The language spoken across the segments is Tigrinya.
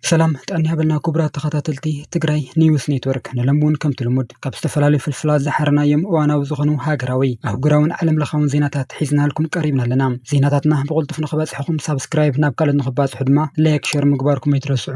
ሰላም ጣኒ ሃበልና ክቡራት ተኸታተልቲ ትግራይ ኒውስ ኔትወርክ ንሎም እውን ከምቲ ልሙድ ካብ ዝተፈላለዩ ፍልፍላት ዝሓረናዮም እዋናዊ ዝኾኑ ሃገራዊ ኣህጉራውን ዓለም ለኻውን ዜናታት ሒዝናልኩም ቀሪብና ኣለና ዜናታትና ብቕልጡፍ ንኽበፅሕኹም ሳብስክራይብ ናብ ካልኦት ንኽባፅሑ ድማ ላይክ ሸር ምግባርኩም ኣይትረስዑ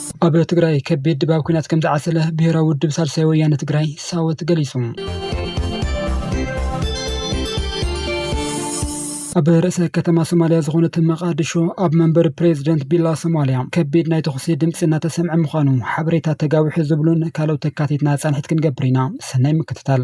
ኣብ ትግራይ ከቢድ ድባብ ኲናት ከምዝዓሰለ ብሄራዊ ውድብ ሳልሳይ ወያነ ትግራይ፣ ሳወት፣ ገሊፁ። ኣብ ርእሰ ከተማ ሶማልያ ዝኾነት መቓድሾ ኣብ መንበሪ ፕሬዚደንት ቢላ ሶማልያ ከቢድ ናይ ተኹሲ ድምፂ እናተሰምዐ ምዃኑ ሓበሬታ ተጋዊሑ ዝብሉን ካልኦት ተካቲትና ፃንሒት ክንገብር ኢና። ሰናይ ምክትታል።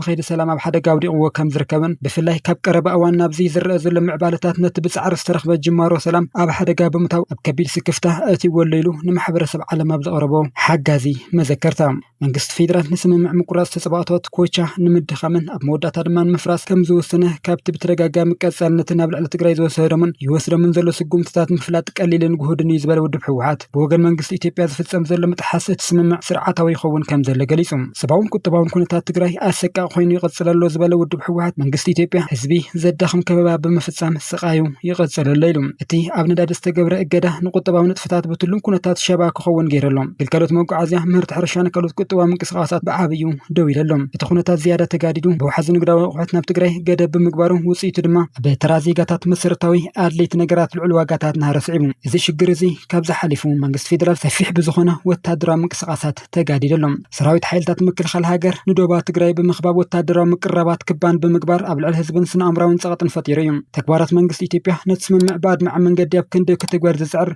ብከይዲ ሰላም ኣብ ሓደጋ ኣውዲቕዎ ከም ዝርከብን ብፍላይ ካብ ቀረባ እዋን ናብዚ ዝረኣ ዘሎ ምዕባለታት ነቲ ብፃዕሪ ዝተረኽበ ጅማሮ ሰላም ኣብ ሓደጋ ብምታው ኣብ ከቢድ ስክፍታ ኣእትይዎ ኣሎ ኢሉ ንማሕበረሰብ ዓለም ኣብ ዘቕረቦ ሓጋዚ መዘከርታ መንግስቲ ፌዴራል ንስምምዕ ምቁራፅ ተፃብኦታት ኮቻ ንምድኻምን ኣብ መወዳእታ ድማ ንምፍራስ ከም ዝወሰነ ካብቲ ብተደጋጋሚ ቀፃልነትን ኣብ ልዕሊ ትግራይ ዝወሰዶምን ይወስዶምን ዘሎ ስጉምትታት ምፍላጥ ቀሊልን ግሁድን እዩ ዝበለ ውድብ ህወሓት ብወገን መንግስቲ ኢትዮጵያ ዝፍፀም ዘሎ ምጥሓስ እቲ ስምምዕ ስርዓታዊ ይኸውን ከምዘሎ ገሊፁ። ሰብኣውን ቁጠባውን ኩነታት ትግራይ ኣሰቃቂ ኮይኑ ይቕፅል ኣሎ ዝበለ ውድብ ህወሓት፣ መንግስቲ ኢትዮጵያ ህዝቢ ዘዳኽም ከበባ ብምፍፃም ስቓዩ ይቕፅል ኣሎ ኢሉ። እቲ ኣብ ነዳዲ ዝተገብረ እገዳ ንቁጠባዊ ንጥፈታት ብትሉን ኩነታት ሸባ ክኸውን ገይሩ ኣሎ። ግልጋሎት መጓዓዝያ፣ ምህርቲ ሕርሻን ካልኦት ቁጠባዊ ምንቅስቓሳት ብዓብይኡ ደው ኢሉ ኣሎ። እቲ ኩነታት ዝያዳ ተጋዲዱ፣ ብውሓዚ ንግዳዊ ኣቑሑት ናብ ትግራይ ገደብ ብምግባሩ ውፅኢቱ ድማ፣ ኣብ ተራ ዜጋታት መሰረታዊ ኣድለይቲ ነገራት ልዑል ዋጋታት ናህሪ ስዒቡ እዚ ሽግር እዚ ካብዚ ሓሊፉ መንግስቲ ፌደራል ሰፊሕ ብዝኾነ ወታደራዊ ምንቅስቓሳት ተጋዲዱ ኣሎ። ሰራዊት ሓይልታት ምክልኻል ሃገር ንዶባ ትግራይ ብምኽባብ ወታደራዊ ምቅርራባት ክባን ብምግባር ኣብ ልዕሊ ህዝብን ስነ ኣእምሮኣዊን ፀቕጥን ፈጢሩ እዩ። ተግባራት መንግስቲ ኢትዮጵያ ነቲ ስምምዕ ብኣድማዒ መንገዲ ኣብ ክንዲ ክትግበር ዝፅዕር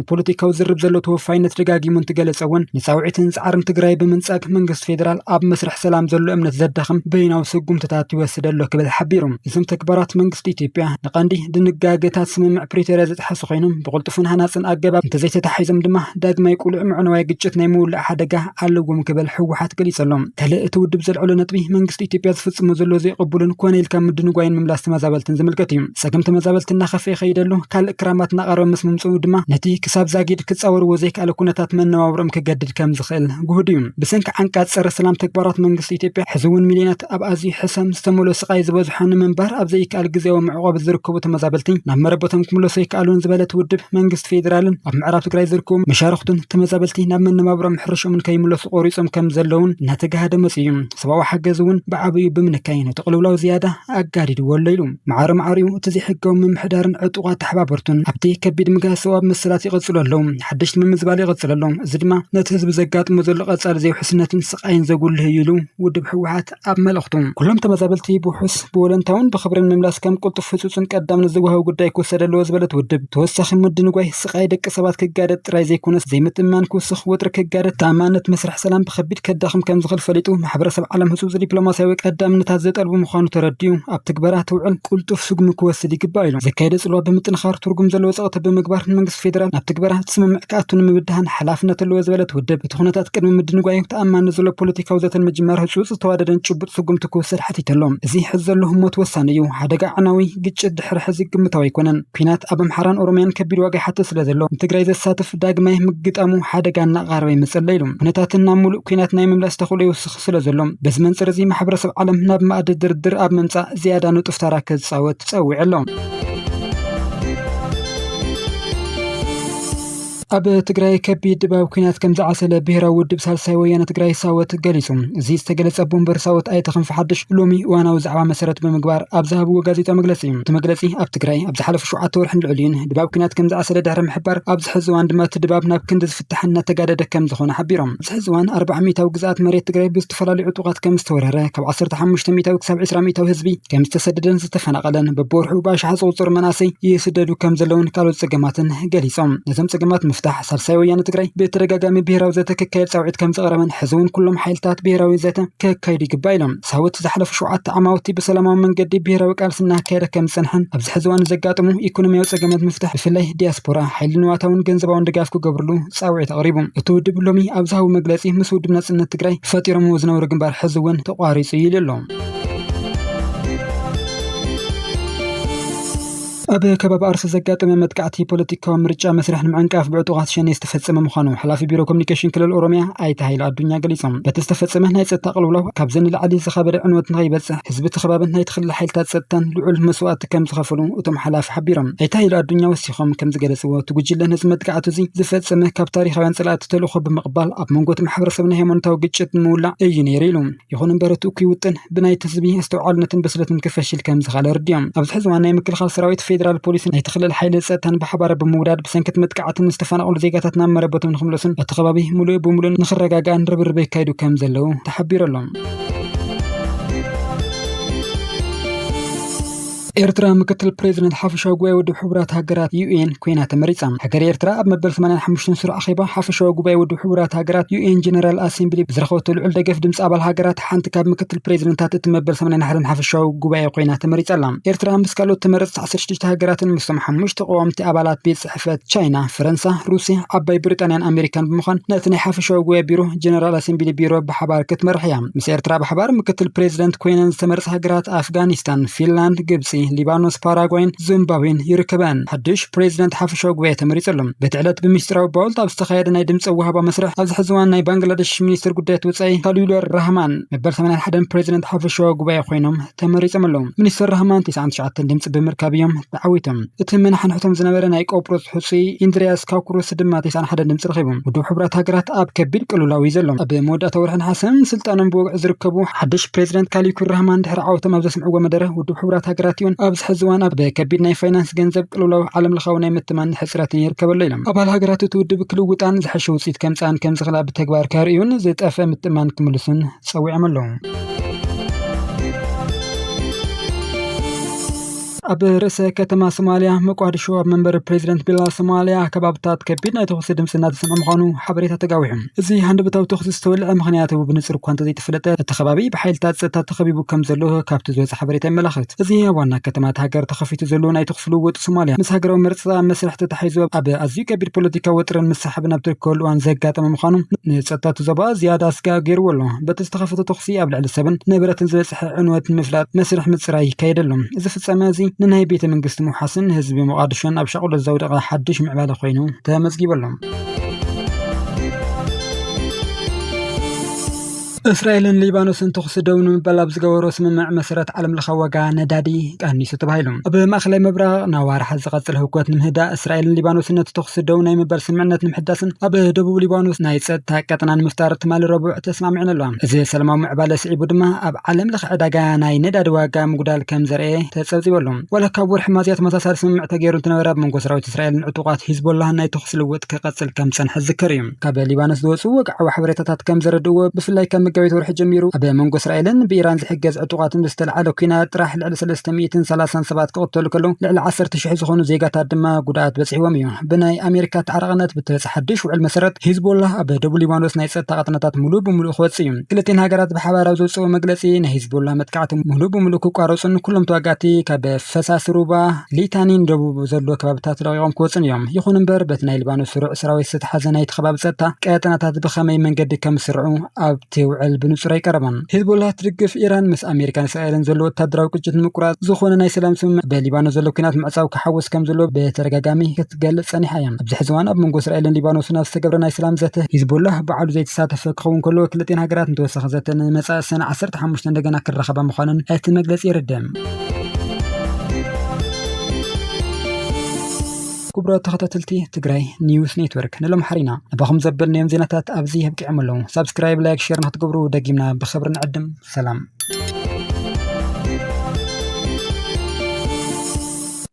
ንፖለቲካዊ ዝርብ ዘሎ ተወፋይነት ደጋጊሙ እንትገለፀ እውን ንፃውዒትን ፃዕርን ትግራይ ብምንፃግ መንግስቲ ፌዴራል ኣብ መስርሕ ሰላም ዘሎ እምነት ዘዳኽም በይናዊ ስጉምትታት ይወስድ ኣሎ ክብል ሓቢሩ። እዞም ተግባራት መንግስቲ ኢትዮጵያ ንቀንዲ ድንጋገታት ስምምዕ ፕሪቶርያ ዝጥሐሱ ኮይኖም ብቕልጡፍን ሃናፅን ኣገባብ እንተዘይተታሒዞም ድማ ዳግማይ ቅሉዕ ምዕነዋይ ግጭት ናይ ምውላዕ ሓደጋ ኣለዎም ክብል ህወሓት ገሊፁ ኣሎ። ካልእ እቲ ውድብ ዘልዐሎ ነጥቢ መንግስቲ ኢትዮጵያ ዝፍፅሞ ዘሎ ዘይቕቡልን ኮነ ኢልካ ምድንጓይን ምምላስ ተመዛበልትን ዝምልከት እዩ። ጸገም ተመዛበልቲ እናኸፍኤ ከይደሉ ካልእ ክራማት እናቐረበ ምስ ምምጽኡ ድማ ነቲ ክሳብ ዛጊድ ክጻወርዎ ዘይከኣለ ኩነታት መነባብሮኦም ክገድድ ከም ዝኽእል ግሁድ እዩ። ብሰንኪ ዓንቃጽ ጸረ ሰላም ተግባራት መንግስቲ ኢትዮጵያ ሕዚ እውን ሚልዮናት ኣብ ኣዝዩ ሕሰም ዝተመልኦ ስቓይ ዝበዝሖ ንምንባር ኣብ ዘይከኣል ግዝያዊ መዕቖቢ ዝርከቡ ተመዛበልቲ ናብ መረበቶም ክምለሱ ኣይከኣሉን ዝበለት ውድብ መንግስቲ ፌዴራልን ኣብ ምዕራብ ትግራይ ዝርከቡ መሻርኽቱን ተመዛበልቲ ናብ መነባብሮኦም ሕርሽኦምን ከይምለሱ ቆሪጾም ከም ዘለውን እናተጋሃደ መጺኡ እዩ። ሰብኣዊ ሓገዝ እውን ብዓብዩ ብምንካይ ነቲ ቅልውላው ዝያዳ ኣጋዲድዎ ኣሎ ኢሉ። ማዕረ ማዕሪኡ እቲ ዘይሕጋዊ ምምሕዳርን ዕጡቓት ተሓባበርቱን ኣብቲ ከቢድ ምግሃስ ሰብኣዊ መሰላት ይቕጽሉ ኣለዉ፣ ሓደሽቲ ምምዝባል ይቕጽል ኣሎ፣ እዚ ድማ ነቲ ህዝቢ ዘጋጥሞ ዘሎ ቀጻሊ ዘይውሕስነትን ስቓይን ዘጉልህ እዩ ኢሉ ውድብ ህወሓት ኣብ መልእኽቱ። ኩሎም ተመዛበልቲ ብውሑስ፣ ብወለንታውን ብኽብርን ምምላስ ከም ቅልጡፍ፣ ህጹጽን ቀዳምነት ዝወሃቦ ጉዳይ ክውሰድ ኣለዎ ዝበለ እቲ ውድብ፣ ተወሳኺ ምድንጓይ፣ ጥቃይ ደቂ ሰባት ክጋደድ ጥራይ ዘይኮነስ ዘይምትእምማን ክውስኽ፣ ወጥሪ ክጋደድ፣ ተኣማንነት መስርሕ ሰላም ብከቢድ ከዳኽም ከምዝኽእል ፈሊጡ ማሕበረሰብ ዓለም ህፁፅ ዲፕሎማሲያዊ ቀዳምነታት ዘጠልቡ ምዃኑ ተረዲኡ ኣብ ትግበራ ትውዕል ቅልጡፍ ስጉሚ ክወስድ ይግባእ ኢሎም። ዘካየደ ፅልዋ ብምጥንኻር ትርጉም ዘለዎ ፀቕጢ ብምግባር ንመንግስቲ ፌዴራል ናብ ትግበራ እቲ ስምምዕ ክኣቱ ንምብድሃን ሓላፍነት ኣለዎ ዝበለ እቲ ውድብ፣ እቲ ኩነታት ቅድሚ ምድንጓዩ ተኣማንነት ዘለዎ ፖለቲካዊ ዘተ ንምጅማር ህፁፅ፣ ዝተዋደደን ጭቡጥ ስጉምቲ ክውሰድ ሓቲቱ ኣሎ። እዚ ሕዚ ዘሎ ህሞት ወሳኒ እዩ፣ ሓደጋ ኣዕናዊ ግጭት ድሕሪ ሕዚ ግምታዊ ኣይኮነን። ኲናት ኣብ ኣምሓራን ኦሮምያን ከቢድ ዋጋ ይሓትት ስለ ዘሎ ንትግራይ ዘሳትፍ ዳግማይ ምግጣሙ ሓደጋ እናቐረበ ይመፅእ ኣሎ ኢሉ። ኩነታትን ናብ ሙሉእ ኲናት ናይ ምምላስ ተኽእሎ ይውስኽ ስለ ዘሎ በዚ መንፅር እዚ ማሕበረሰብ ዓለም ናብ መኣዲ ድርድር ኣብ ምምፃእ ዝያዳ ንጡፍ ተራ ክፃወት ፀዊዑ ኣሎ። ኣብ ትግራይ ከቢድ ድባብ ኩናት ከም ዝዓሰለ ብሄራዊ ውድብ ሳልሳይ ወያነ ትግራይ ሳወት ገሊጹ። እዚ ዝተገለጸ ኣቦወንበር ሳወት ኣይተ ክንፈ ሓድሽ ሎሚ እዋናዊ ዛዕባ መሰረት ብምግባር ኣብ ዝሃብዎ ጋዜጣዊ መግለጺ እዩ። እቲ መግለጺ ኣብ ትግራይ ኣብ ዝሓለፉ ሸውዓተ ወርሕን ልዕሊኡን ድባብ ኩናት ከም ዝዓሰለ ድሕሪ ምሕባር ኣብዚ ሕዚ እዋን ድማ እቲ ድባብ ናብ ክንዲ ዝፍታሕን እናተጋደደ ከም ዝኾነ ሓቢሮም። ኣብዚ ሕዚ እዋን ኣርባዓ ሚኢታዊ ግዝኣት መሬት ትግራይ ብዝተፈላለዩ ዕጡቓት ከምዝተወረረ፣ ካብ ዓሰርተ ሓሙሽተ ሚኢታዊ ክሳብ ዕስራ ሚኢታዊ ህዝቢ ከምዝተሰደደን ዝተፈናቐለን ብብወርሑ ብኣሽሓት ዝቑፀሩ መናእሰይ ይስደዱ ከምዘለውን ካልኦት ፀገማትን ገሊፆም። ነዞም ፀገማት ንምፍታሕ ሳልሳይ ወያነ ትግራይ ብተደጋጋሚ ብሄራዊ ዘተ ክካየድ ፃውዒት ከምዘቕረበን ሕዚ እውን ኩሎም ሓይልታት ብሄራዊ ዘተ ከካይዱ ይግባእ ኢሎም። ሳወት ዝሓለፉ ሸውዓተ ዓማውቲ ብሰላማዊ መንገዲ ብሄራዊ ቃልሲ እናካየደ ከምዝፀንሐን ኣብዚ ሕዚ እዋን ንዘጋጥሙ ኢኮኖሚያዊ ፀገማት ንምፍታሕ ብፍላይ ዲያስፖራ ሓይሊ ንዋታውን ገንዘባውን ድጋፍ ክገብርሉ ፃውዒት ኣቕሪቡ። እቲ ውድብ ሎሚ ኣብ ዝሃቦ መግለፂ ምስ ውድብ ናፅነት ትግራይ ፈጢሮምዎ ዝነበሩ ግንባር ሕዚ እውን ተቋሪፁ እዩ ኢሉ ኣሎ። ኣብ ከባቢ ኣርሲ ዘጋጠመ መጥቃዕቲ ፖለቲካዊ ምርጫ መስርሕ ንምዕንቃፍ ብዕጡቓት ሸኔ ዝተፈፀመ ምዃኑ ሓላፊ ቢሮ ኮሚኒኬሽን ክልል ኦሮሚያ ኣይተ ሃይለ ኣዱኛ ገሊፆም። በቲ ዝተፈፀመ ናይ ፀጥታ ቅልውላው ካብዚ ንላዕሊ ዝኸበደ ዕንወት ንኸይበፅሕ ህዝቢ እቲ ከባብን ናይቲ ክልል ሓይልታት ፀጥታን ልዑል መስዋእቲ ከምዝኸፈሉ እቶም ሓላፊ ሓቢሮም። ኣይተ ሃይለ ኣዱኛ ወሲኾም። ቢሮኹም ከምዝገለፅዎ እቲ ጉጅለ ነዚ መጥቃዕቲ እዚ ዝፈፀመ ካብ ታሪኻውያን ፀላእቲ ተልእኾ ብምቕባል ኣብ መንጎ እቲ ማሕበረሰብ ናይ ሃይማኖታዊ ግጭት ንምውላዕ እዩ ነይሩ ኢሉ። ይኹን እምበር እቲ እኩይ ውጥን ብናይቲ ህዝቢ ኣስተውዓልነትን ብስለትን ክፈሽል ከምዝኻለ ኣረዲኦም። ኣብዚ ሕዚ እዋን ናይ ምክልኻል ሰራዊት፣ ፌዴራል ፖሊስን ናይቲ ክልል ሓይሊ ፀጥታን ብሓባር ብምውዳድ ብሰንኪ እቲ መጥቃዕትን ዝተፈናቐሉ ዜጋታት ናብ መረበቶም ንኽምለሱን እቲ ከባቢ ሙሉእ ብሙሉእ ንኽረጋጋእን ርብርብ የካይዱ ከምዘለው ተሓቢሩ ኣሎ። ኤርትራ ምክትል ፕሬዚደንት ሓፈሻዊ ጉባኤ ውድብ ሕቡራት ሃገራት ዩኤን ኮይና ተመሪጻ። ሃገረ ኤርትራ ኣብ መበል 85 ስሩዕ ኣኼባ ሓፈሻዊ ጉባኤ ውድብ ሕቡራት ሃገራት ዩኤን ጀነራል ኣሴምብሊ ብዝረኸበቶ ልዑል ደገፍ ድምጺ ኣባል ሃገራት ሓንቲ ካብ ምክትል ፕሬዚደንታት እቲ መበል 81 ሓፈሻዊ ጉባኤ ኮይና ተመሪጻ ኣላ። ኤርትራ ምስ ካልኦት ተመረጽቲ 16 ሃገራትን ምስቶም ሓሙሽተ ቀዋምቲ ኣባላት ቤት ብሕፍረት ቻይና፣ ፈረንሳ፣ ሩስያ፣ ዓባይ ብሪጣንያን ኣሜሪካን ብምዃን ነቲ ናይ ሓፈሻዊ ጉባኤ ቢሮ ጀነራል ኣሰምቢሊ ቢሮ ብሓባር ክትመርሕ እያ። ምስ ኤርትራ ብሓባር ምክትል ፕሬዚደንት ኮይነን ዝተመርፃ ሃገራት ኣፍጋኒስታን፣ ፊንላንድ፣ ግብፂ፣ ሊባኖስ፣ ፓራጓይን ዙምባብዌን ይርከበኣን። ሓዱሽ ፕሬዚደንት ሓፈሻዊ ጉባኤ ተመሪፁ ኣሎ። በቲ ዕለት ብምስጢራዊ ባውልት ኣብ ዝተኻየደ ናይ ድምፂ ኣወሃህባ መስርሕ ኣብዚ ሕዚ እዋን ናይ ባንግላደሽ ሚኒስትር ጉዳያት ወፃኢ ካሊሉር ራህማን መበል ሰማንያን ሓደን ፕሬዚደንት ሓፈሻዊ ጉባኤ ኮይኖም ተመሪፆም ኣለዉ። ሚኒስትር ራህማን ቴስዓን ትሽዓተን ድምፂ ብምርካብ እዮም ተዓዊቶም። እቲ መናሕንሕቶም ዝነበረ ናይ ቆጵሮስ ሕፁይ ኢንድርያስ ካኩሩስ ድማ ቴስዓን ሓደን ድምፂ ረኺቡ። ውድብ ሕቡራት ሃገራት ኣብ ከቢድ ቅልውላው እዩ ዘሎ። ኣብ መወዳእታ ወርሒ ነሓሰ ስልጣኖም ብወግዒ ዝርከቡ ሓድሽ ፕሬዚደንት ካሊኩር ራህማን ድሕሪ ዓወቶም ኣብ ዘስምዕዎ መደረ ውድብ ሕቡራት ሃገራት ዩን ኣብዚ ሕዚ እዋን ኣብ ከቢድ ናይ ፋይናንስ ገንዘብ ቅልውላው ዓለም ለኻዊ ናይ ምትማን ሕፅረትን ይርከበ ኣሎ ኢሎም። ኣባል ሃገራት እቲ ውድብ ክልውጣን ዝሐሸ ውፅኢት ከምፅኣን ከምዝኽእላ ብተግባር ከርእዩን ዝጠፍእ ምትእምማን ክምልሱን ጸዊዖም ኣለዉ። ኣብ ርእሰ ከተማ ሶማልያ መቋድሾ ኣብ መንበሪ ፕሬዚደንት ቢላ ሶማልያ ከባብታት ከቢድ ናይ ተኹሲ ድምፂ እናተሰምዐ ምዃኑ ሓበሬታ ተጋዊሑ። እዚ ሃንደበታዊ ተኹሲ ዝተወልዐ ምኽንያት ብንፁር እኳ እንተዘይተፈለጠ እቲ ከባቢ ብሓይልታት ፀጥታ ተኸቢቡ ከምዘሎ ካብቲ ዝወፀ ሓበሬታ የመላኽት። እዚ ኣብ ዋና ከተማ እታ ሃገር ተኸፊቱ ዘሎ ናይ ተኹሲ ልውውጥ ሶማልያ ምስ ሃገራዊ መርፃ ኣብ መስርሕ ተተሓሒዙ ኣብ ኣዝዩ ከቢድ ፖለቲካዊ ወጥሪን ሳሕብን ኣብ ትርከበሉ እዋን ዘጋጠመ ምዃኑ ንፀጥታ እቲ ዞባ ዝያዳ ስጋእ ገይርዎ ኣሎ። በቲ ዝተኸፈተ ተኹሲ ኣብ ልዕሊ ሰብን ንብረትን ዝበፅሐ ዕንወት ንምፍላጥ መስርሕ ምፅራይ ይካየድ ኣሎ። እዚ ፍፃመ እዚ ንናይ ቤተ መንግስቲ ምውሓስን ህዝቢ ሞቓድሾን ኣብ ሻቕሎት ዘውደቐ ሓዱሽ ምዕባለ ኮይኑ ተመዝጊቡ ኣሎ። እስራኤልን ሊባኖስን ተኹሲ ደው ንምባል ኣብ ዝገበሮ ስምምዕ መሰረት ዓለምለኻዊ ዋጋ ነዳዲ ቀኒሱ ተባሂሉ። ኣብ ማእከላይ ምብራቕ ንኣዋርሕ ዝቐጽል ህውከት ንምህዳእ እስራኤልን ሊባኖስን ነቲ ተኹሲ ደው ናይ ምባል ስምምዕነት ንምሕዳስን ኣብ ደቡብ ሊባኖስ ናይ ጸጥታ ቀጠና ንምፍጣር ትማሊ ረቡዕ ተስማዕሚዐን ኣለዋ። እዚ ሰላማዊ ምዕባለ ስዒቡ ድማ ኣብ ዓለምለኸ ዕዳጋ ናይ ነዳዲ ዋጋ ምጉዳል ከም ዘርእየ ተጸብጺቡ ኣሎ። ዋላ ካብ ወርሒ ሚያዝያ ተመሳሳሊ ስምምዕ ተገይሩ እንተነበረ፣ ኣብ መንጎ ሰራዊት እስራኤልን ዕጡቓት ሂዝቦላህን ናይ ተኹሲ ልውውጥ ክቐጽል ከም ዝጸንሐ ዝዝከር እዩ። ካብ ሊባኖስ ዝወፁ ወግዓዊ ሓበሬታታት ከም ዘረድእዎ ብፍላይ ካብ መጋቢት ወርሒ ጀሚሩ ኣብ መንጎ እስራኤልን ብኢራን ዝሕገዝ ዕጡቓትን ብዝተለዓለ ኩናት ጥራሕ ልዕሊ 330 ሰባት ክቕተሉ ከለዉ ልዕሊ 10 ሽሕ ዝኾኑ ዜጋታት ድማ ጉድኣት በፂሕዎም እዩ። ብናይ ኣሜሪካ ተዓራቕነት ብተበፅሐ ሓድሽ ውዕል መሰረት ሂዝቦላ ኣብ ደቡብ ሊባኖስ ናይ ፀጥታ ቀጠናታት ሙሉእ ብሙሉእ ክወፅእ እዩ። ክልቲኤን ሃገራት ብሓባር ኣብ ዘውፅእዎ መግለፂ ናይ ሂዝቦላ መጥቃዕቲ ሙሉእ ብሙሉእ ክቋረፁን ኩሎም ተዋጋእቲ ካብ ፈሳሲ ሩባ ሊታኒ ንደቡብ ካብ ዘሎ ከባብታት ለቒቖም ክወጹን እዮም። ይኹን እምበር፣ በቲ ናይ ሊባኖስ ስሩዕ ሰራዊት ዝተትሓዘ ናይቲ ከባቢ ጸጥታ፣ ቀጠናታት ብኸመይ መንገዲ ከም ዝስርዑ ኣብቲ ውዕል ብንጹር ኣይቀረበን። ሂዝቦላህ ትድግፍ ኢራን ምስ ኣመሪካን እስራኤልን ዘሎ ወተሃደራዊ ግጭት ንምቁራጽ ዝኾነ ናይ ሰላም ስምምዕ በሊባኖስ ዘሎ ኲናት ምዕጻው ክሓውስ ከም ዘለዎ ብተደጋጋሚ ክትገልጽ ጸኒሓ እያ። ኣብዚ ሕዚ እዋን ኣብ መንጎ እስራኤልን ሊባኖስን ኣብ ዝተገብረ ናይ ሰላም ዘተ፣ ሂዝቦላህ ባዕሉ ዘይተሳተፈ ክኸውን ከሎ፣ ክልቲኤን ሃገራት ንተወሳኺ ዘተ ንመጻኢ ሰነ ዓሰርተ ሓሙሽተ እንደገና ክራኸባ ምዃነን እቲ መግለጺ የረድእ። ክቡራት ተኸታተልቲ ትግራይ ኒውስ ኔትወርክ ንሎምሓሪና ኣባኹም ዘበልናዮም ዜናታት ኣብዚ ኣብቂዖም ኣለዉ ሳብስክራይብ ላይክ ሼር ንክትገብሩ ደጊምና ብኽብሪ ንዕድም ሰላም